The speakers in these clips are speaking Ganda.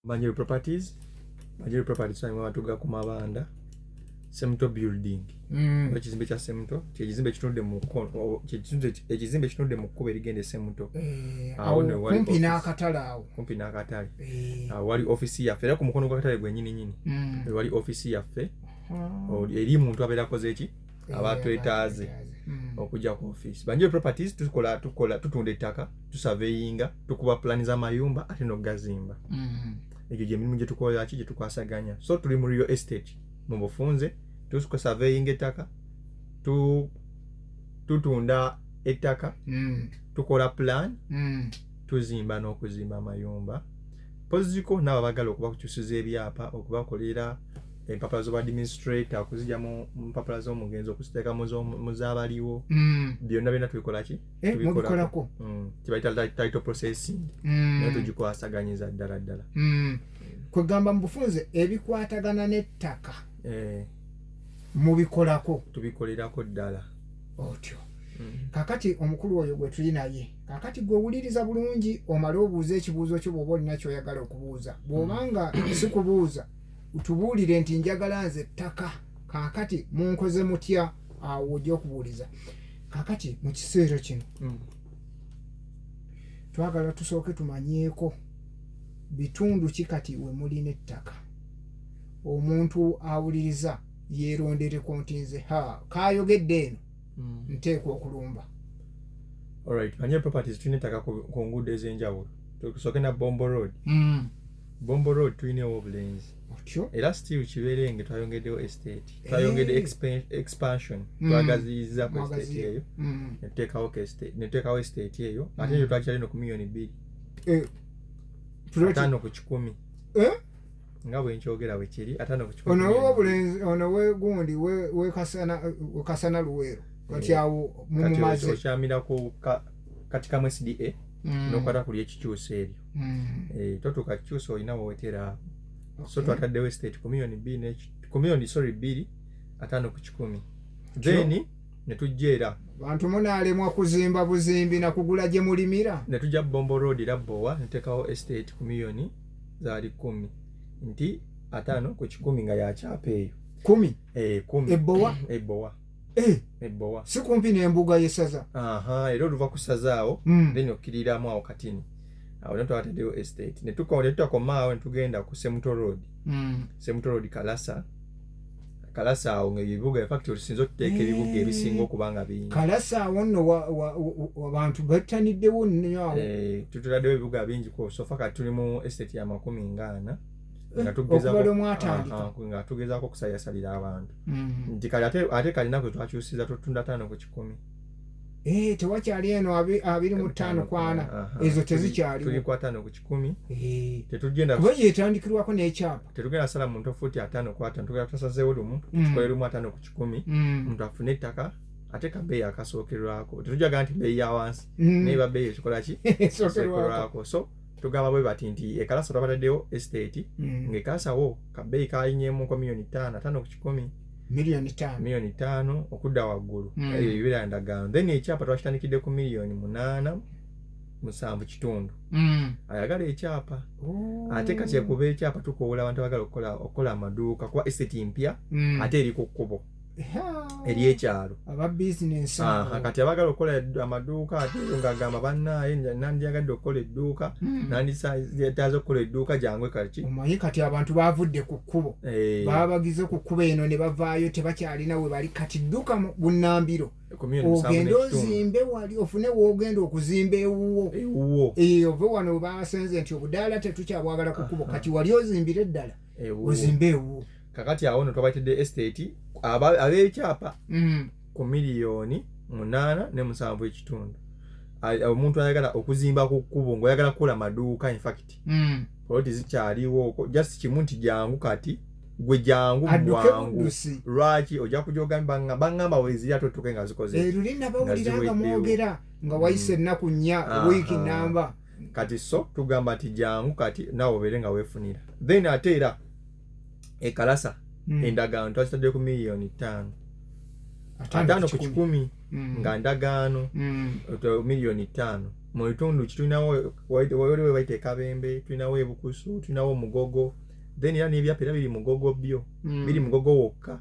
manual properties manual properties sange batuga ku mabanda semto building mm. ekizimbe kya semto kyekizimbe kitunudde mu ekizimbe kitunudde mu kkuba erigenda esemto eh, kumpi n'akatale awo kumpi n'akatale eh. ah, wali ofisi yaffe era ku mukono gw'akatale gwenyini nyini mm. wali ofisi yaffe eri muntu abeera akoze eki abatwetaaze hmm. okujja ku ofiisi banjire properties tukola tukola tutunda ettaka tusaveyinga tukuba pulani z'amayumba ate n'okugazimba hmm. egyo gyemirimu gyetukolera ki gyetukwasaganya so tuli mu real estate mu bufunze tusaveyinga ettaka tutunda ettaka hmm. tukola pulani tuzimba n'okuzimba amayumba poziko naabo abagala okubakukyusiza ebyapa okubakolera empapula zobadministrator okuzija mu mpapula zomugenzi okuziteeka mu zabaliwo mm. byonna byonna tubikolaki eh, mubikolako kyebayita mm. title processing mm. naye tugikwasaganyiza ddala ddala kwegamba mu bufunze ebikwatagana n'ettaka eh. mubikolako tubikolerako ddala otyo Mm. kakati omukulu oyo gwe tuli naye kakati gwe wuliriza bulungi omale obuuza ekibuuzo kyo bwoba olina kyoyagala okubuuza bwobanga mm. sikubuuza tubuulire nti njagala nze ttaka kaakati munkoze mutya awo ojja okubuuliza kaakati mu kiseera kino mm. twagala tusooke tumanyeeko bitundu ki kati we mulina ettaka omuntu awuliriza yeerondereko nti nze ha kaayogedde eno mm. nteekwa okulumba olright manye properties tulina ettaka ku nguudo ez'enjawulo tukusooke na bombo road mm. Bombo Road tuyinewo obulenzi otyo era still kiberenge twayongeddewo estate eh. twayongedde expansion mm. twagaziyiza ku estate eyo mm. netuteekawo estate eyo mm. ate ekyo twakyali no ku miyoni bbiri eh, ataano ku kikumi eh? nga bwenkyogera bwekiri ataano ku kikumi ono wegundi wekasana luweero kati awo mumumaze okyamirako kati kamu sda nokwata kuli ekikyusa ebyo mm. e, eh, totuuka kikyusa olina wewetera okay. so twataddewo estate ku millioni bbiri ku millioni sorry bbiri ataano ku kikumi then sure. netujja era bantu munaalemwa kuzimba buzimbi nakugula gye mulimira netujja bombo road era bowa netekawo estate ku millioni zaali kumi nti ataano ku kikumi nga yakyapa eyo kumi e, kumi ebowa ebowa eh. ebowa si kumpi n'embuga y'essaza era oluva ku ssaza awo hmm. then okkiriramu awo katini awo ne twataddeyo estate ne tutakoma awo ne tugenda ku semuto road hmm. semuto road kalasa kalasa awo ngaebibuga infact osinza okuteeka ebibuga ebisinga eh. okuba nga bingi kalasa awo nno abantu bettaniddewo nnyo awo eh, tutuladewo ebibuga bingi ku sofa kati tuli mu estate ya makumi ngaana nga tugezaako okusayasalira abantu mm-hmm. nti kali ate ate kalina kwe twakyusiza tutunda tano ku kikumi eh tewakyali eno abiri mu ttaano kwana ezo tezikyali tuli kwa tano ku kikumi eh. tetugenda kuba yetandikirwako n'ekyapa tetugenda sala muntu ofuti atano kwa tano tugenda tusazeewo lumu mm. tukole lumu atano ku kikumi mm. omuntu afune ettaka ate ka beeyi akasookerwako tetujaga nti beeyi ya wansi mm. naye ba beeyi ekikolaki esookerwako so tugamba bwe bati nti ekalasa twabataddewo estate mm. ng'ekalasawo kabeeyi kalinyemu nko miliyoni ttaano ataano ku kikumi miliyoni ttaano miliyoni ttaano okudda waggulu mm. ebyo bibeera ndagaano then ekyapa twakitandikidde ku miliyoni munaana musanvu kitundu mm. ayagala ekyapa oh. ate kati ekuba ekyapa tukoola abantu abagala okukola amaduuka kuba estate mpya ate eri ku kkubo eri ekyalo kati abagala okukola amaduuka ate ngaagamba bannaaye nandyagadde okukola edduuka hmm. nanditaaze okukola edduuka gyangu kaki omanyi kati abantu bavudde ku kkubo eh. babagize ku kkubo eno ne bavaayo tebakyalina we bali kati dduka bunambiro ogende ozimbe wali ofune wogenda okuzimba ewuwo ewuwo eh, ove wano basenze nti obudaala tetukyabwagala kukubo ah, kati ah. wali ozimbire eddala ozimbe ewuwo kakati awo no twabaitidde estate ab'ekyapa mm. ku miliyoni munaana ne musanvu ekitundu omuntu ayagala okuzimba ku kkubo ngaoyagala kukola maduuka infact mm. poloti zikyaliwooko just kimu nti jangu kati gwe jangu mubwangu lwaki ojja kujogambe bangamba weziri ate otuke nga zikozeruli eh, nabawulira nga mwogera nga wayise mm. ennaku nnya wiiki namba kati so tugamba nti jangu kati nawe obeere nga wefunira then ate era ekalasa mm. endagaano twazitadde ku miliyoni ttaano ataano ku kikumi mm. nga ndagaano mm. miliyoni ttaano mu bitundu ki tulinawo wali webaita ekabembe tulinawo ebukusu tulinawo omugogo then era nebyapa era biri mugogo byo mm. biri mugogo wokka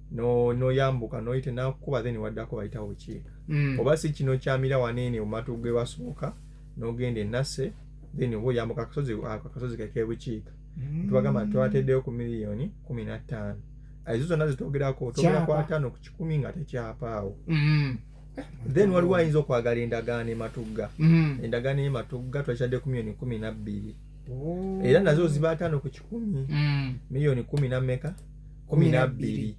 no noyambuka noyite nakukuba then waddako bayitawo wekiika mm. oba si kino kyamira waneene omatu gwe basooka nogenda enase then oba oyambuka akasozi akasozi kekebukiika mm. tubagamba twateddeyo ku miliyoni kumi nattaano ezo zonna zitwogerako togera kwataano ku kikumi nga tekyapaawo mm. then waliwo ayinza okwagala endagaano ematugga mm. endagaano ematugga twakyadde ku miliyoni kumi nabbiri oh. era nazo ziba ataano ku kikumi mm. miliyoni kumi nammeka kumi nabbiri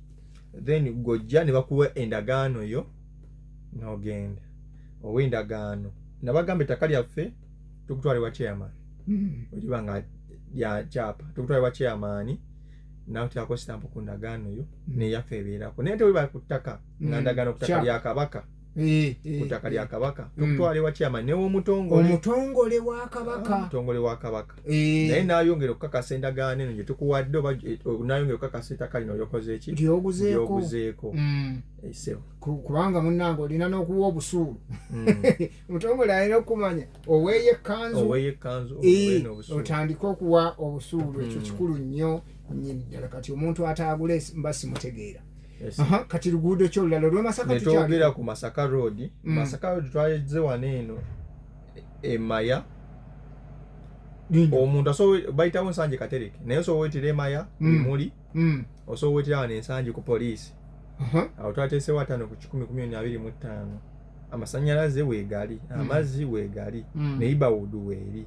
then gojja ne bakuwa endagaano yo nogenda owa endagaano nabagamba ettaka lyaffe tukutwala ewa chairman hmm. oliba nga lya kyapa tukutwala ewa chairman nawe tyako sitampu ku ndagaano yo hmm. neyaffe ebeerako naye tewebali ku ttaka nga hmm. ndagaano ku ttaka lya kabaka eh, eh, kutaka lya eh. kabaka mm. tokutwala ewa kyama newomutongole omutongole wa kabaka ah, omutongole wa kabaka naye nayongera okukakasa endagaano eno gyetukuwadde oba nayongera okukakasa ettaka lino lyokoze eki lyoguzeeko mm. kubanga munange olina nokuwa obusuulu mm. omutongole alina okukumanya oweeyo ekkanzu otandike okuwa obusuulu ekyo kikulu nnyo nyini ddala kati omuntu ataagule mba simutegeera kati luguudo ki olulala olwemasaka netwogera ku masaka road mm. masaka road twayeze wano eno emaya omuntu asobola bayitawo ensanje katereke naye osobola wetira emaya mm. emuli mm. osobola wetira wano ensanje ku poliisi awo twateesewo ataano ku kikumi kumi oni abiri mu ttaano amasanyalaze wegali amazzi wegali neighborhood weeri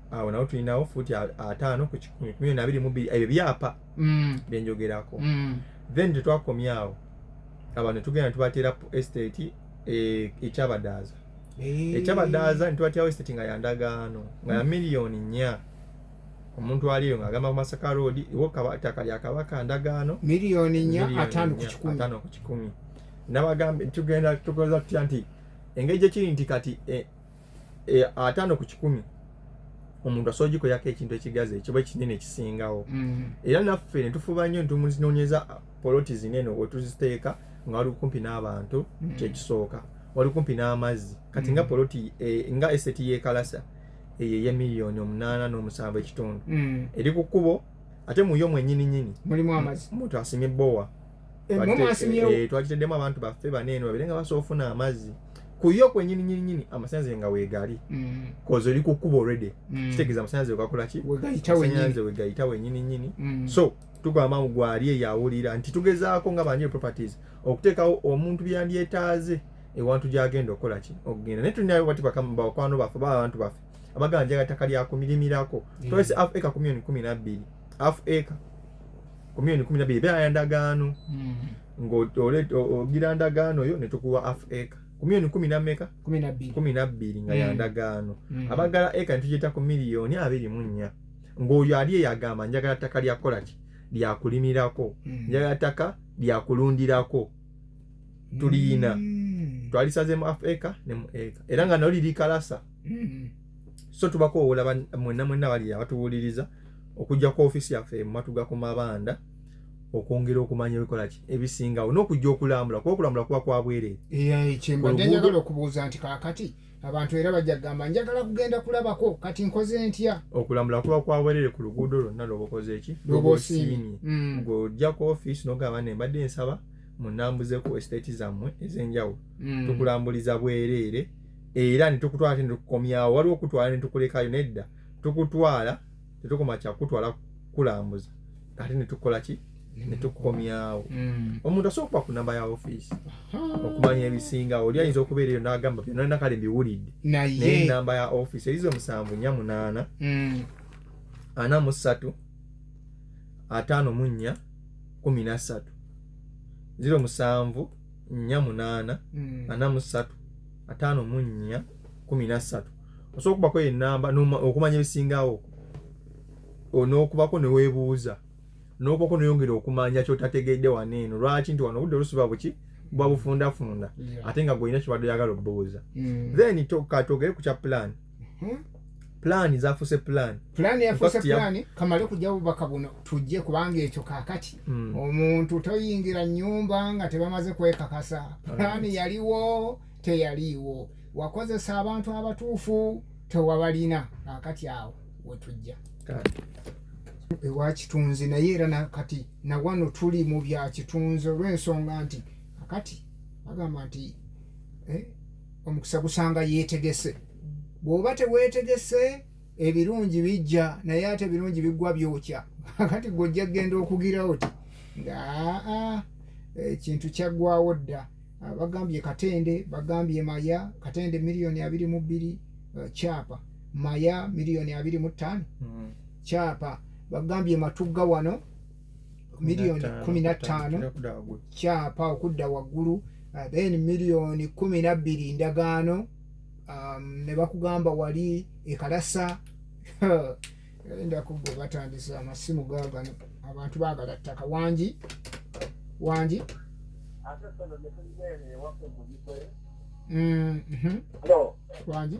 awo nawo tulinawo fuuti ataano ku kikumi kumi na abiri mu bbiri ebyo byapa mm. byenjogerako mm. then tetwakomya awo abantu netugenda netubateera estate e, ekyabadaaza eh. ekyabadaaza netubatyawo estate nga yandagaano nga ya mm. miliyoni nnya omuntu aliyo nga agamba kumasaka road iwotaka lya kabaka ndagaano miliyoni nnya ataano ku kikumi nabagambe tugenda tukoza tutya nti engeri gyekiri nti kati e, e, ataano ku kikumi omuntu asobola ogikolako ekintu ekigazi ekiba ekinene ekisingawo mm-hmm. era naffe netufuba nnyo ntimuzinonyeza poloti zinene wetuziteeka nga wali kumpi n'abantu mm-hmm. kyekisooka wali kumpi n'amazzi kati nga mm-hmm. poloti e, nga eseti yekalasa eyo eye miliyoni omunaana n'omusanvu ekitundu eri ku kkubo ate muyo mwenyini nyini mulimu amazzi omuntu asimye bowa eh, twakiteddemu abantu baffe bana eno babere nga basobola ofuna amazzi kuyo kwenyini nyini nyini amasanyalaze nga wegali mm. koze oli kukuba already mm. kitegeeza amasanyalaze wegakola ki amasanyalaze wegayita wenyini nyini mm. so tugamba mu gwali eyawulira nti tugezaako nga banje properties okuteekawo omuntu byandyetaaze ewantu gyagenda okukola ki okugenda naye tulinayo bati bakwano baffe baba abantu baffe abaganja gataka lyakumirimirako tolese af eka ku milioni kumi nabbiri af eka ku milioni kumi na biri beera ndagaano hmm. ng'ogira ndagaano yo netukuwa af eka ku milioni kumi nameka kumi na bbiri nga ya ndagaano abagala eka netugiyita ku miliyoni abiri mu nnya ng'oyo ali eyo agamba njagala ttaka lya kukola ki lyakulimirako hmm. njagala ttaka lyakulundirako tuliyina hmm. twalisazemu af eka ne mu eka era nga nalo liri kalasa hmm. so tubakoowola mwenna mwenna bali abatuwuliriza okujja ku ofiisi yaffe mu matuga ku mabanda okwongera okumanya ebikola ki ebisingawo n'okujja okulambula kuba okulambula kuba kwa bwereere kyembadde njagala okubuuza nti kaakati abantu era bajja kugamba njagala kugenda kulabako kati nkoze ntya okulambula kuba kwa bwereere ku luguudo lwonna lwobakoze eki lwoba osiimye mm. ng'ojja ku ofiisi n'ogamba ne mbadde nsaba munambuzeku estate zammwe ezenjawulo mm. tukulambuliza bwereere era netukutwala ate netukukomyawo waliwo okutwala netukulekayo nedda tukutwala tetukoma kyakutwala kukulambuza ate netukola ki netukukomyawo mm. omuntu asobola okuba ku namba ya ofiisi okumanya ebisinga oli ayinza okubeera eyo nagamba byonalina kale mbiwulidde naye namba ya ofiisi erizo musanvu nya munaana mm. ana mu ssatu ataano mu nnya kumi na ssatu ziro musanvu nnya munaana mm. ana mu ssatu ataano mu nnya kumi na ssatu osobola okubako enamba okumanya ebisingawo n'okubako newebuuza n'okubako neyongera okumanya kyotategedde wano eno lwaki nti wano obudde olusiba buki bwabufundafunda ate nga gweolina kyobadde oyagala obubuuza mm. then katogere ku kya pulaani hmm? pulaani zafuuse pulaani pulaani yafuuse pulaani kamale kujja bubaka buno tujje kubanga ekyo kakati hmm. omuntu toyingira nyumba nga tebamaze kwekakasa pulaani yaliwo teyaliiwo wakozesa abantu abatuufu tewabalina kakati awo wetujja ewa kitunzi naye era nakati nawano tuli mu bya kitunzi olw'ensonga nti kakati bagamba nti eh, omukisa gusanga yeetegese bw'oba teweetegese ebirungi bijja naye ate ebirungi biggwa byokya kati gwojja kugenda okugira oti nga aa ekintu kyaggwawo dda bagambye katende bagambye maya katende miliyoni abiri mu bbiri eh, kyapa maya miliyoni abiri mu ttaano kyapa hmm. bagambye matugga wano miliyoni kumi na ttaano kyapa okudda waggulu uh, then miliyoni kumi na bbiri ndagaano um, ne bakugamba wali ekalasa endako gwe batandise amasimu gagano abantu bagala ttaka wangi wangi mm, mhm. wangi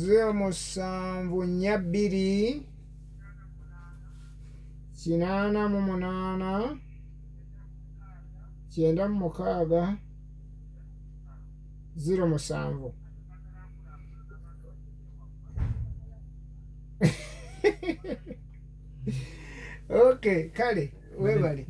zero musanvu nnya bbiri kinaana mu munaana kyenda mu mukaaga zero musanvu okay kale webale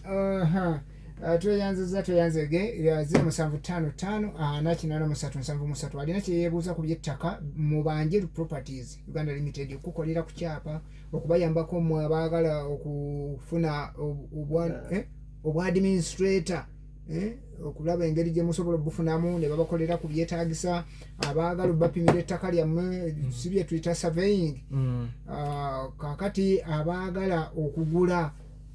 uh-huh. Uh, tweyanziza tweyanzege ziro musanvu ttaano ttaano ana kinaana musatu nsanvu musatu alina kyeyebuuza ku byettaka mubanje properties uganda limited okukukolera ku kyapa okubayambako mwe abaagala okufuna eh, obwa administrator eh, okulaba engeri gyemusobola obufunamu nebabakolera ku byetagisa abaagala obubapimira ettaka lyammwe mm. si byetuyita surveying mm. uh, kakati abaagala okugula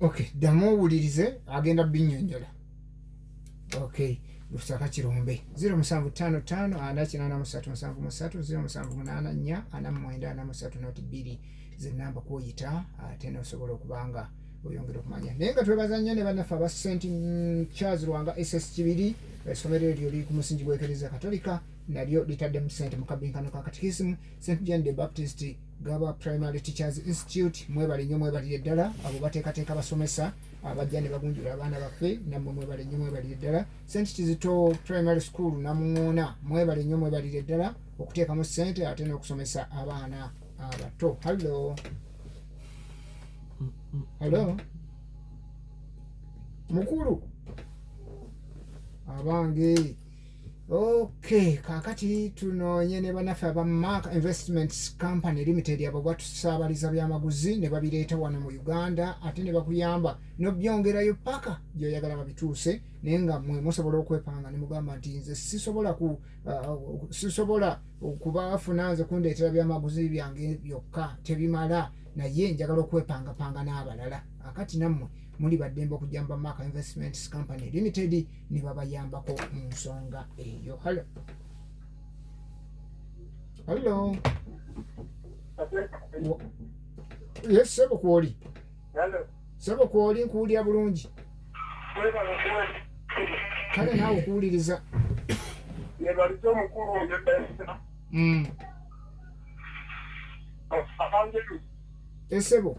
ok ddamu owulirize agenda binyonyola ok lusaka kirombe 0755837374 zenamba kwoyita ate nosobola okubanga oyongera okumanya naye nga twebaza nnyo ne bannaffe aba st charles lwanga ss kibiri esomero eryo liri ku musingi gwekereza katolika nalyo litadde mu sente mu kabinkano ka katikisimu st jan de baptist gaba primary teachers institute mwebale nnyo mwebalire ddala abo bateekateeka basomesa abajja ne bagunjula abaana baffe nammwe mwebale nnyo mwebalire ddala st kizito primary school namuŋoona mwebale nnyo mwebalire ddala okuteekamu ssente ate n'okusomesa abaana abato hallo hallo mukulu abange Okay, kakati tunoonye ne banaffe aba Mark Investments Company Limited abo batusaabaliza byamaguzi ne babireeta wano mu Uganda ate ne bakuyamba nobyongerayo paka gyoyagala babituuse naye nga mwe musobola okwepanga ne mugamba nti nze sisobola ku uh, sisobola okubafuna nze kundeetera byamaguzi byange byokka tebimala naye njagala okwepangapanga n'abalala akati nammwe muli baddembe okujjamba Mark Investments Company Limited ne babayambako mu nsonga eyo halo halo yes sebo kwoli sebo kwoli nkuwulira bulungi kale naawe okuwuliriza nebalisa omukulu ngeesa mm. esebo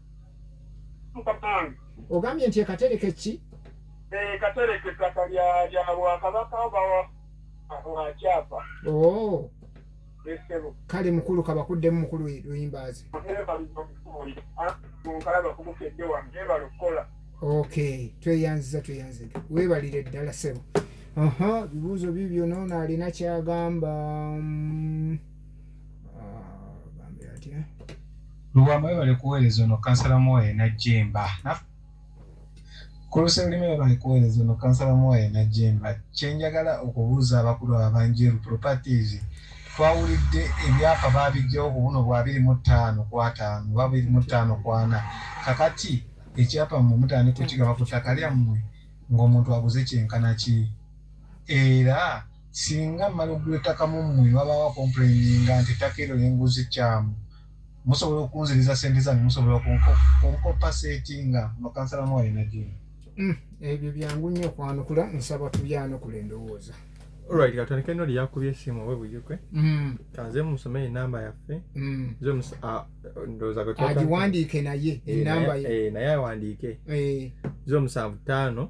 ogambye nti ekatereke ki eh, katereke ettaka lya bwakabaka bwakyapa oh. kale mukulu kabakuddemu mukulu luyimbaazi ok tweyanziza tweyanziza webalire ddala sebo aha bibuuzo bibyo noona alina kyagamba mm. Lubwama webale kuweereza ono kansala Muwaye Najjemba Kulusa olulimi webale kuweereza ono kansala Muwaye Najjemba kyenjagala okubuuza abakulu abanjeru properties twawulidde ebyapa baabijjawo ku buno bwa abiri mu ttaano ku ataano oba abiri mu ttaano ku ana kakati ekyapa mmwe mutandika okigaba ku ttaka lyammwe ng'omuntu aguze kyenkana ki era Singa mmala okugula ettaka mu mmwe ne wabaawo akompuleyininga nti ettaka eryo lye nguze kkyamu, musobola okunziriza ssente zange? Musobola okunkoppa seetinga mu kansala Mwale Nagginda? Hmm, ebyo byangu nnyo okwanukula. Nsaba tubyanukule endowooza. Alright, katandika eno lyakubye esimu owe buyuke mm. kanze musome enamba yaffe mm. agiwandiike naye enamba eh, ye eh, naye awandiike eh. zo musanvu ttaano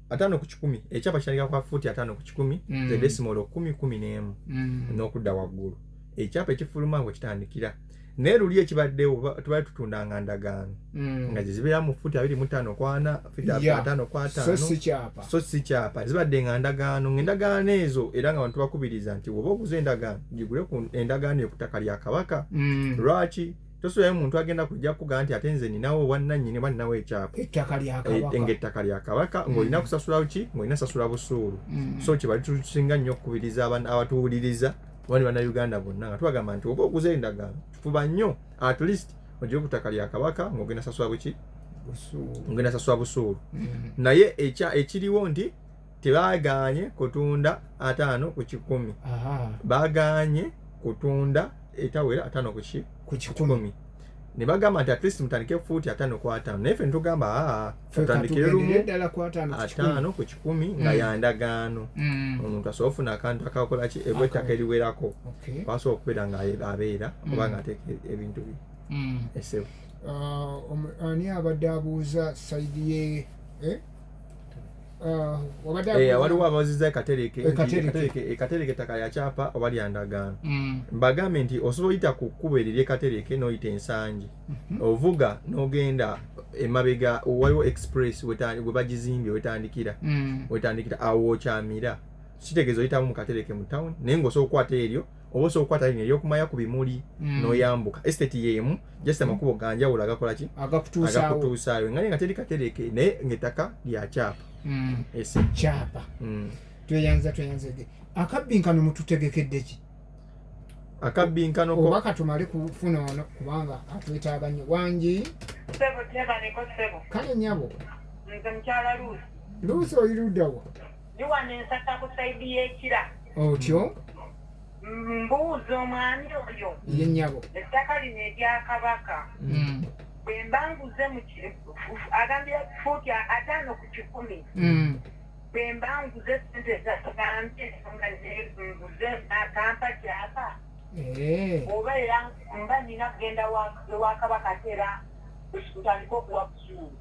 ataano ku kikumi ekyapa kitandika kwa fuuti ataano ku kikumi mm. ze desimolo kumi kumi n'emu mm. n'okudda waggulu ekyapa ekifuluma we kitandikira naye luli ekibaddewo tubali tutundanga ndagaano mm. nga zezibeera mu fuuti abiri mu ttaano kwana ataano kwataano so si kyapa zibadde nga ndagaano ngaendagaano ezo era nga bantu bakubiriza nti woba oguza endagaano gigule ku endagaano ekutaka lya kabaka lwaki tosuulayo muntu agenda kujja kugaa nti ate nze ninawo obwannannyini oba ninawo ekyapa eh, nga ettaka lya kabaka mm. ng'olina kusasulawo ki ng'olina sasula busuulu mm. so kye bali tusinga nnyo okukubiriza abatuwuliriza oba ne bannayuganda bonna nga tubagamba nti oba oguza endagaano fuba nnyo at least ogire ku ttaka lya kabaka ng'ogenda sasula buki ng'ogenda sasula busuulu mm. naye ekiriwo nti tebagaanye kutunda ataano ku kikumi bagaanye kutunda etawera ataano ku kikumi ne bagamba nti atleast mutandike fuuti ataano ku ataano naye fe netugamba tutandikire lumu ataano ku kikumi nga mm. yandagaano mm. omuntu asobola ofuna akantu akakola ki ebwa ettaka eriwerako kwasobola okubeera nga abeera mm. oba nga ateeka ebintu bye esebo uh, um, ani abadde abuuza saidi ye eh? Ah, eh, waliwo abaziza ekatereke ekatereke ettaka lyakyapa oba lyandagaano mm. mbagambe nti osobola oyita ku kkubo eryo lyekatereke noyita ensangi mhm. ovuga nogenda emabega waliwo express webagizimbye wetandikira mm. wetandikira awo okyamira kitegeeza oyitamu mukatereke mu town naye ngaosobola okukwata eryo oba osobola okukwata lino eyokumaya ku bimuli mm. noyambuka estate yemu just amakubo mm. ganjawulo agakolaki agakutuusaayo nga nga teri katereke naye ngaettaka lya kyapa mm. kyapa tweyanza tweyanzege akabbinkano mututegekeddeki akabbinkano oba katumale kufuna ono kubanga atwetaaga nnyo wangi kale nyabo luusi oyirudawa ndi wano ensaka ku saidi y'ekira otyo mbuuza omwami oyo ye nnyabo ettaka lino erya kabaka Mm. bwe mba nguze mu ki- agambira fuuti ataano ku kikumi Mm. bwe mba nguze sente ezatugambye nga nguze nakampa kyapa Eh. oba era mba nina kugenda wa- ewa kabaka ate era ntandika okuwa busuulu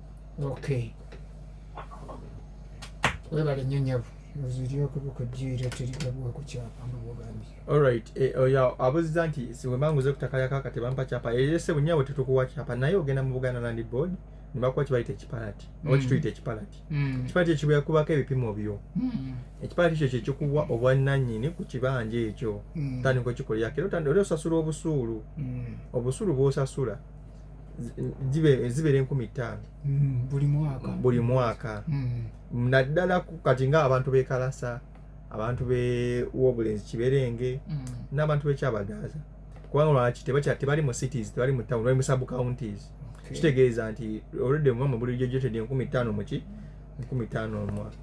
okay webale nnyo nyabo eh, oyo abuziza nti siwemanguze kutakayakaka tebampa kyapa eyese eh, bunyabo tetukuwa kyapa naye ogenda mu buganda land board nebakuwa kibayita ekipalati mm. oba kituyita ekipalati mm. ekipalati ekyo kibakubako ebipimo byo mm. ekipalati ekyo kyekikuwa obwannanyini ku kibanja ekyo tandika okikolerako era oli osasula obusuulu obusuulu bwosasula zibeera enkumi ttaano mm, buli mwaka mm. naddala kati nga abantu bekalasa abantu bewobulenzi kiberenge mm. n'abantu bekyabagaaza kubanga lwaki tebali mu cities tebali mu town bali mu sub counties kitegeeza nti oludde mumama buli jojotedi enkumi ttaano muki enkumi ttaano omwaka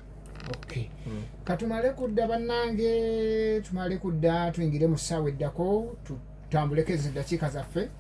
okay mm. katumale kudda bannange tumale kudda tuyingire mu ssaawa eddako tutambuleko ezo eddakiika zaffe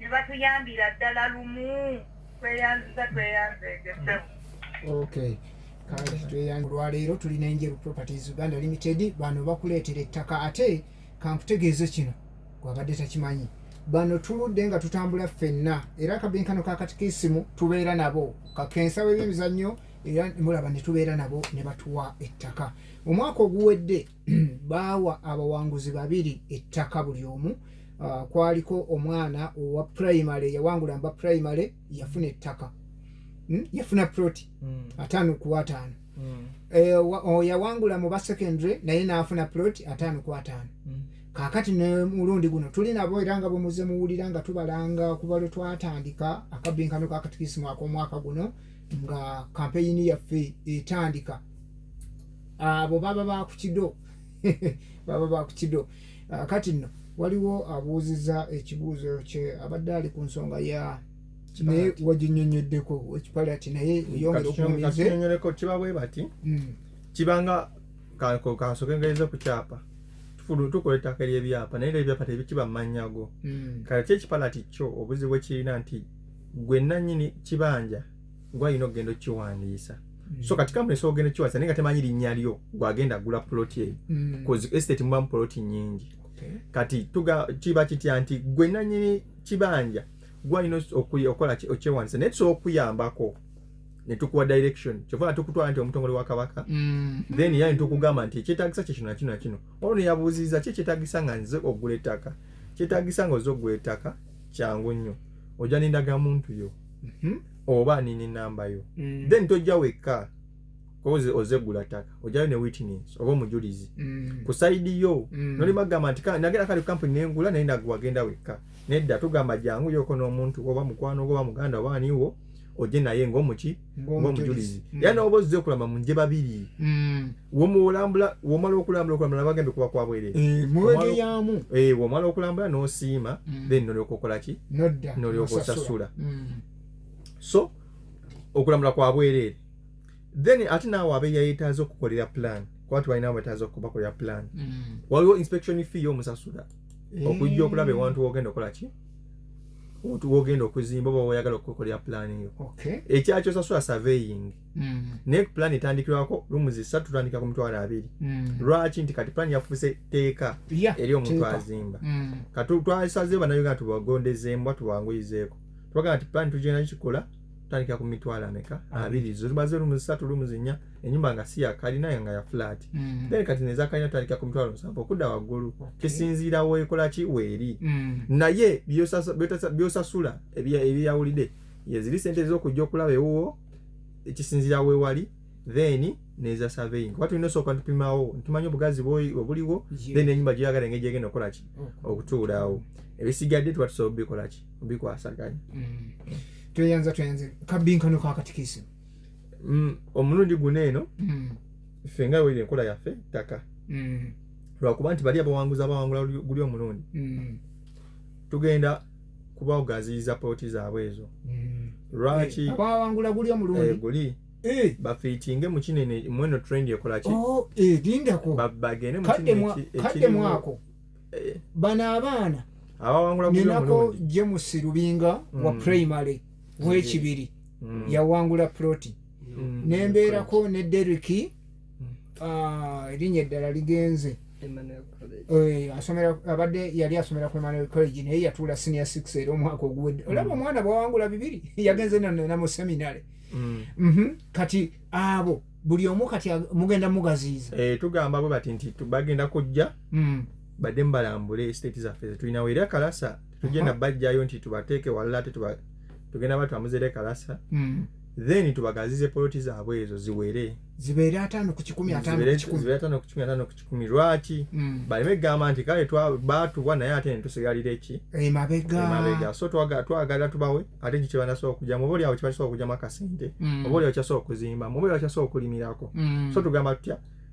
ne batuyambira ddala lumu tweyanziza tweyanzeegese okay olwaleero tulina enjeru properties uganda limited bano bakuleetera ettaka ate kankutegeeze kino gwabadde takimanyi bano tuludde nga tutambula ffenna era akabinkano kakatikisimu tubeera nabo kakensa webyemizannyo era mulaba ne tubeera nabo ne batuwa ettaka omwaka oguwedde baawa abawanguzi babiri ettaka buli omu uh, kwaliko omwana owa primary yawangula mba primary yafuna ettaka hmm? yafuna proti hmm. ataano ku ataano hmm. eh, yawangula mu ba secondary naye naafuna proti ataano ku ataano kakati nemulundi guno tuli nabo era nga bwemuze muwulira nga tubalanga kuba lwe twatandika akabbinkano ka katikisimu ak'omwaka guno nga kampeyini yaffe etandika abo baba bakukido baba bakukido ah, kati nno waliwo abuuziza ekibuuzo kye abadde ali ku nsonga ya naye waginyonyoddeko ekipalati naye mm, yongera okunyonyoleko kiba bwe bati mm. kibanga kansoke ngaiza ku kyapa tufulu tukola ettaka ery'ebyapa naye ebyapa tebikiba mannya go mm. kale kyo ekipalati kyo obuzibu ekirina nti gwe nannyini kibanja gwalina okugenda okiwandiisa mm. so kati kampuni esobola ogenda okiwandiisa naye nga temanyi linnya lyo gwagenda agula poloti eyo mm. coz estate mubamu poloti nyingi kati kiba kitya nti gwe nanyini kibanja gwalina okukola okyewandiisa naye tusobola okukuyambako netukuwa direction kyova nga tukutwala nti omutongole wa kabaka mm. then yani tukugamba nti ekyetagisa kyekino nakino nakino olwo neyabuuziriza ki ekyetagisa nga nze ogula ettaka kyetagisa nga oze ogula ettaka kyangu nnyo oja nendagamuntu yo mhm. oba nini namba yo mm. then tojja wekka kozi ozegula taka ojayo ne witness oba omujulizi mm. ku side yo mm. noli magamba nti nagenda kali kampuni nengula naye naguwa genda wekka nedda tugamba jangu yoko n'omuntu oba mukwano oba muganda oba aniwo oje naye ng'omuki ng'omujulizi mm. era noba ozze okulama mu nje babiri mm. womulambula womala okulambula okulambula nabagambye kuba kwa bwerere eh, muwegeyamu eh, womala okulambula nosiima mm. then nolyoka okolaki nolyoka osasula mm. so okulambula kwa bwerere then ate naawe abe yayetaaza okukolera plan kuba tubalina wetaaza okubakolera plan mm. waliwo inspection fee yomusasula eh. okujja okulaba ewantu wogenda okola ki wogenda okuzimba oba woyagala okukolera plan eyo ekyakyo osasula surveying Mm. naye plan etandikirwako lumu zisatu tutandikira ku mitwalo abiri mm. lwaki nti kati plan yafuuse tteeka eri omuntu azimba mm. kati twasazeyo banauganda tubagondezeemu tubanguyizeeko twagamba nti plan tugenda kikola tutandikira ku mitwalo ameka abiri zo zibaze lumu zisatu lumu zinya enyumba nga si yakalina nga ya flat then kati nezakalina tutandikira ku mitwalo musanvu okudda waggulu kisinziira weekola ki weeri naye byosasula ebyeyawulidde yeziri sente ezokujja okulaba ewuwo ekisinzira wewali then neza surveying kuba tulina osooka tupimawo ntumanya obugazi obuliwo then enyumba gyoyagala engeri gyegenda okukolaki okutuulaawo ebisigadde tuba tusobola obikolaki obikwasaganya mm. tweyanza tweyanze kabinkano kakatikisi mm, omulundi guno eno mm. ffe nga weri enkola yaffe ttaka lwakuba nti bali abawanguzi abawangula guli omulundi tugenda kuba ogaziyiza pooti zaabwe ezo mm. lwaki eh, abawangula guli omulundi eh, guli eh. bafiitinge mu kinene mweno trend ekolaki oh, edindako bagende mukadde mwako bano abaana abawangula guli omulundi ninako jemusi lubinga wa mm. primary wekibiri mm. yawangula proti mm. nembeerako ne deriki mm. ah, erinnya eddala ligenze eh, asomera abadde yali asomera ku emmanuel college naye yatuula senior six era omwaka oguwedde olaba mm. omwana bwawangula bibiri yagenze nana mu seminary mhm. kati abo buli omu kati mugenda mugaziiza eh, tugamba bwe bati nti bagenda kujja badde mubalambule estate zaffe zetulinawo era kalasa tujenda bajjayo nti tubateeke walala ate tugenda batwamuzere kalasa mm. then tubagazize poloti zaabwe ezo ziwere zibeere ataano ku kikumi ataano ku kikumi lwaki mm. baleme kugamba nti kale baatubwa naye ate netusigalira eki emabega eh, so twagala tubawe ate ekyo kyebanasobola okujamu oba olyawo kyebasobola okujamu akasente mm. oba olyawo kyasobola okuzimbamu oba olyawo kyasobola okulimirako mm. so tugamba tutya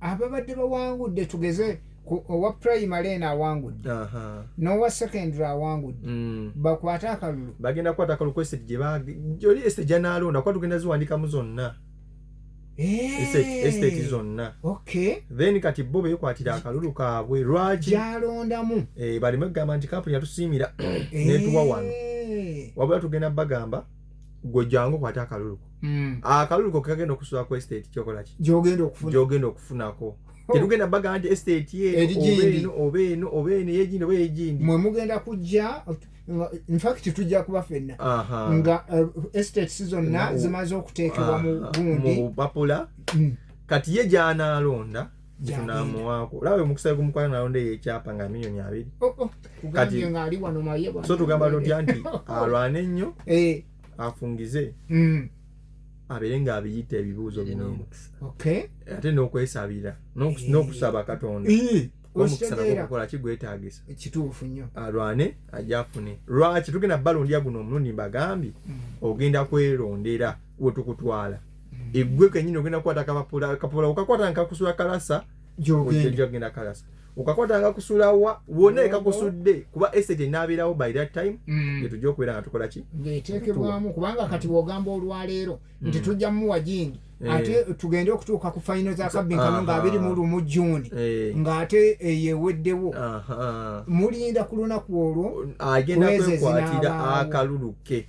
ababadde bawangudde tugeze owa primary eno awangudde n'owa secondary awangudde mm. bakwate akalulu bagenda kukwata akalulu kweseti gyebajoli eseti gyanaalonda kuba tugenda ziwandikamu zonna estate eh. zonna then kati bo bekwatira akalulu kaabwe lwaki gyalondamu eh, baleme kugamba nti kampuni yatusiimira eh. netuwa wano wabula tugenda bagamba gwe jangu okwate akalulu ko mm. akalulu ko kagenda okusula ku estate kyokola ki gyogenda okufuna gyogenda okufunako oh. tetugenda baga nti estate ye oba eno oba eno yegindi oba yegindi mwe mugenda kujja infact tujja kuba fenna nga eh, estates zonna zimaze okuteekebwa mu gundi mm. kati ye gyanalonda tunamuwaako olaba omukisa gumukwana nalonda eyo ekyapa nga milioni abiri oh, oh. so tugamba tutya nti alwane ennyo eh. afungize mm. abeere nga abiyita ebibuuzo binene ate n'okwesabira eh. n'okusaba katonda eh. omukisa nagokukola kigwetagisa kituufu nnyo alwane ajafune lwaki tugenda balondya guno omulundi mbagambye mm. ogenda kwelondera wetukutwala egwe kenyini ogenda kukwata kapapula kapapula okakwata nga kakusula kalasa gyogenda kalasa okakwata nga kusula wa wona ekakusudde kuba esete enabeerawo by that time mm. gyetujja okubeera nga tukola ki ngaeteekebwamu kubanga kati bwogamba olwaleero mm. nti tujja muwa jingi eh. ate tugende okutuuka ku fayino za kabinkano nga abiri mu lumu juuni eh. ng'ate eyeweddewo mulinda ku lunaku olwo agenda kwekwatira akaluluke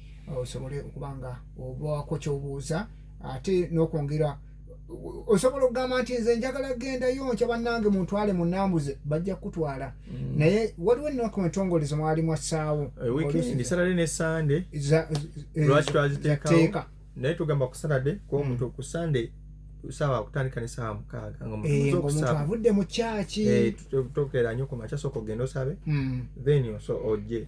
osobole okuba nga obaako kyobuuza ate nokwongera osobola okugamba nti nze njagala gendayo nkya bannange muntwale munambuze bajja kukutwala mm. naye waliwo ennaku entongole zemwali mwassaawo naye tugamba ku saturday kuba omuntu mm. ku sunday sawa okutandika ne sawa mukaaga nga omuntu eh, omuntu avudde mu kyaki eh, tokera nyo ku makya sooka ogenda osabe mm. then oje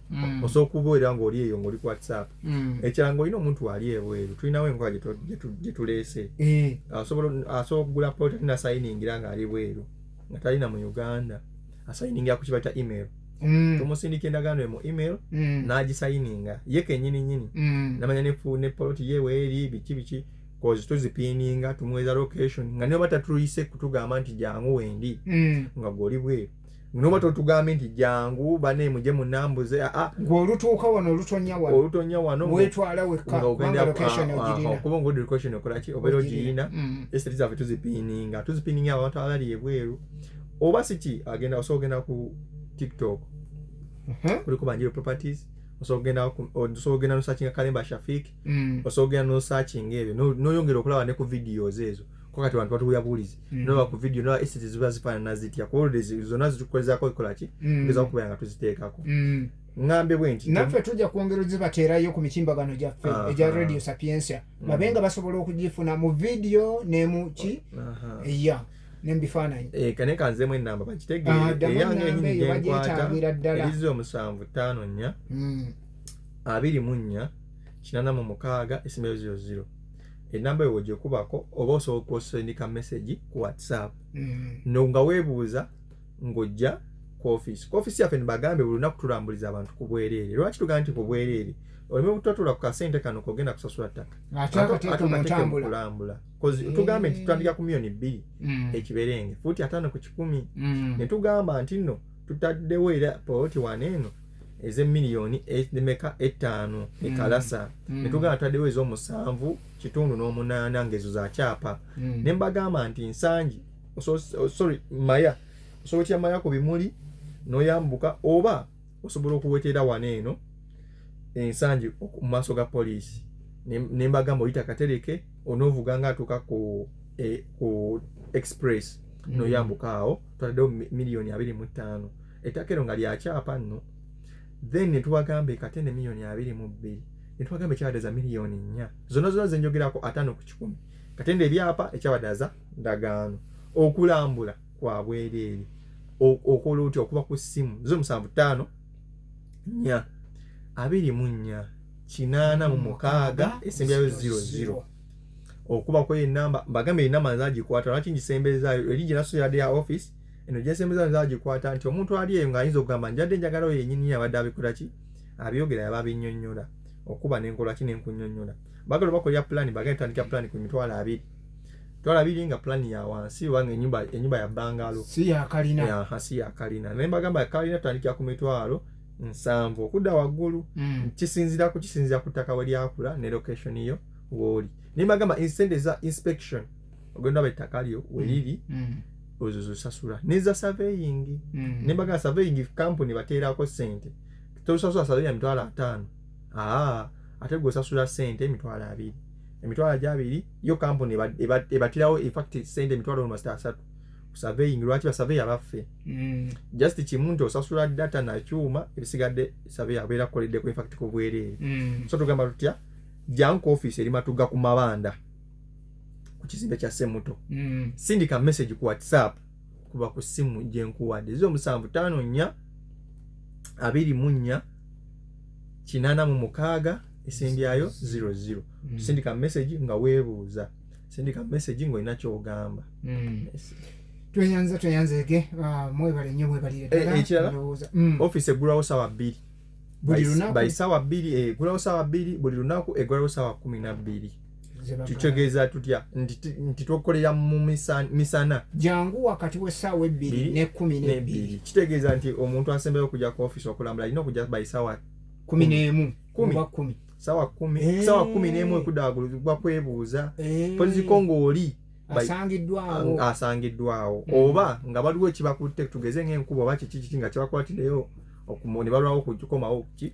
mm. osobola okubeera ngaoli eyo ngaoli ku whatsapp mm. ekirala ngaolina omuntu ali ebweru tulinawo enkola gyetuleese eh. asobola okugula pota nasayiningira ngaali bweru nga talina mu uganda asayiningira ku kibata email mm. tumusindika endagaano emu email mm. n'agisayininga ye kenyini nyini mm. namanya nefu ne poloti ye weeri biki biki kozi tuzipiininga tumuweza location nga niba tatuyise kutugamba nti jangu wendi mm. nga gwoli bweru noba totugambye nti jangu bane muje munambuze ah, ah. ngolutuuka wano olutonya wano olutonya wano wetwala wekka kubanga location ah, ogirina kuba ngodi location okolaki obeera ogirina mm. esiri zaffe tuzipininga tuzipininga abantu abali ebweru oba siki agenda osobola ogenda ku tiktok uh-huh. kuliko banjiro properties osobola ogenda nosakinga kalemba shafik mm. osobola ogenda nosakinga ebyo noyongera okulaba ne ku videos ezo ko kati abantu batuwulira buwulizi mm. noba ku vidiyo noba esete ziba zifaanana zitya kuba oludde zonna zitukolezaako ekola ki mm. tugeza okubeera nga tuziteekako mm. ngambe bwe nti naffe tujja kwongera ozibateerayo ku mitimbagano gyaffe egya radio sapiensia babe nga basobola okugifuna mu vidiyo nemuki ya nembifaananyi eh, kane kanzemu enamba bakitegeereyange ah, enyini gyenkwata erizi omusanvu ttaano nnya abiri mu nnya kinana mu mukaaga esimeyo ziro ziro enamba eyo wegyekubako oba osobola okusendika message ku whatsapp mm. no nga webuuza ng'ojja ku office ku office yaffe nibagambe buli lunaku tulambuliza abantu ku bwereere lwaki tugamba nti ku bwereere oleme obutotula ku kasente kano kogenda kusasula ttaka kulambula mm. tugambe nti tutandika ku miyoni bbiri mm. ekiberenge fuuti ataano ku kikumi mm. netugamba nti nno tutaddewo era poloti wano eno ezemiliyoni e, emeka ettaano mm. ekalasa mm. netugamba twaddewo ezomusanvu kitundu n'omunaana ngaezo za kyapa mm. ne mbagamba nti nsangi oh, sorry maya osobola otya maya ku bimuli noyambuka oba osobola okuwetera wano eno ensangi mu maaso ga poliisi ne mbagamba oyita katereke onovuga nga atuuka ku e, express noyambuka awo twataddewo miliyoni abiri mu ttaano ettaka ero nga lyakyapa nno then netubagamba ekatende miliyoni abiri mu bbiri netubagamba ekyabadaza miliyoni nnya zona zona zenjogerako ataano ku kikumi katende ebyapa ekyabadaza ndagaano okulambula kwa bwereere okola otya okuba ku ssimu zo musanvu ttaano nnya abiri mu nnya kinaana mu mukaaga esembyayo ziro ziro okubako enamba mbagamba enamba nzagikwata lwaki ngisembezaayo eri gyenasoyade ya office eno gyesembeza nza agikwata nti omuntu ali eyo ng'ayinza okugamba njadde njagala oyo yenyini yabadde abikola ki abyogera yaba abinyonyola okuba nenkola ki nenkunyonyola bagala obakolera pulani bagenda tutandika pulani ku mitwalo abiri twala biri nga plan ya wansi wange enyumba enyumba ya bangalo si ya kalina ya hasi ya kalina naye bagamba kalina tandikira ku mitwalo nsanvu okudda waggulu mm. kisinzira ku kisinzira ku ttaka we lyakula ne location yo woli naye bagamba insende za inspection ogenda aba ettaka lyo weliri mm. mm. ozo zosasula neza surveying mm. nembaga surveying company bateerako sente tosasula surveying ya mitwalo ataano aa ate gwe osasula sente emitwalo abiri emitwalo gyabiri yo company ebatirawo infact sente emitwalo nomasita asatu surveying lwaki basurveya baffe mm. just kimu nti osasula data nakyuma ebisigadde surveya abeera kukoleddeko infact kubwereere mm. so tugamba tutya janku office eri matuga ku mabanda ku kizimbe kya semuto mm. sindika message ku whatsapp kuba ku simu gyenkuwadde ezi omusanvu taano nnya abiri mu nnya kinaana mu mukaaga esembyayo zero zero mm. sindika message nga weebuuza sindika message ng'olina kyogamba mm. tweyanza tweyanzege ah, mwebale nnyo mwebalire eh, ekirala mm. office eggulawo sawa bbiri by sawa bbiri eggulawo eh, sawa bbiri buli lunaku eggulawo sawa kumi na bbiri kitegeeza tutya nti tukolera mu misana jangu wakati w'essaawa ebbiri n'ekkumi n'ebbiri kitegeeza nti omuntu asembayo okujja ku ofiisi okulambula alina okujja by saawa kumi n'emu kumiba kumi saawa kumi eh. saawa kumi n'emu ekudaagulwa kwebuuza eh. poziko ng'oli asangiddwawo asangiddwawo mm. oba nga baliwo ekibakutte tugeze ng'enkuba oba kiki kiki nga kibakwatireyo ne balwawo kukomawo ki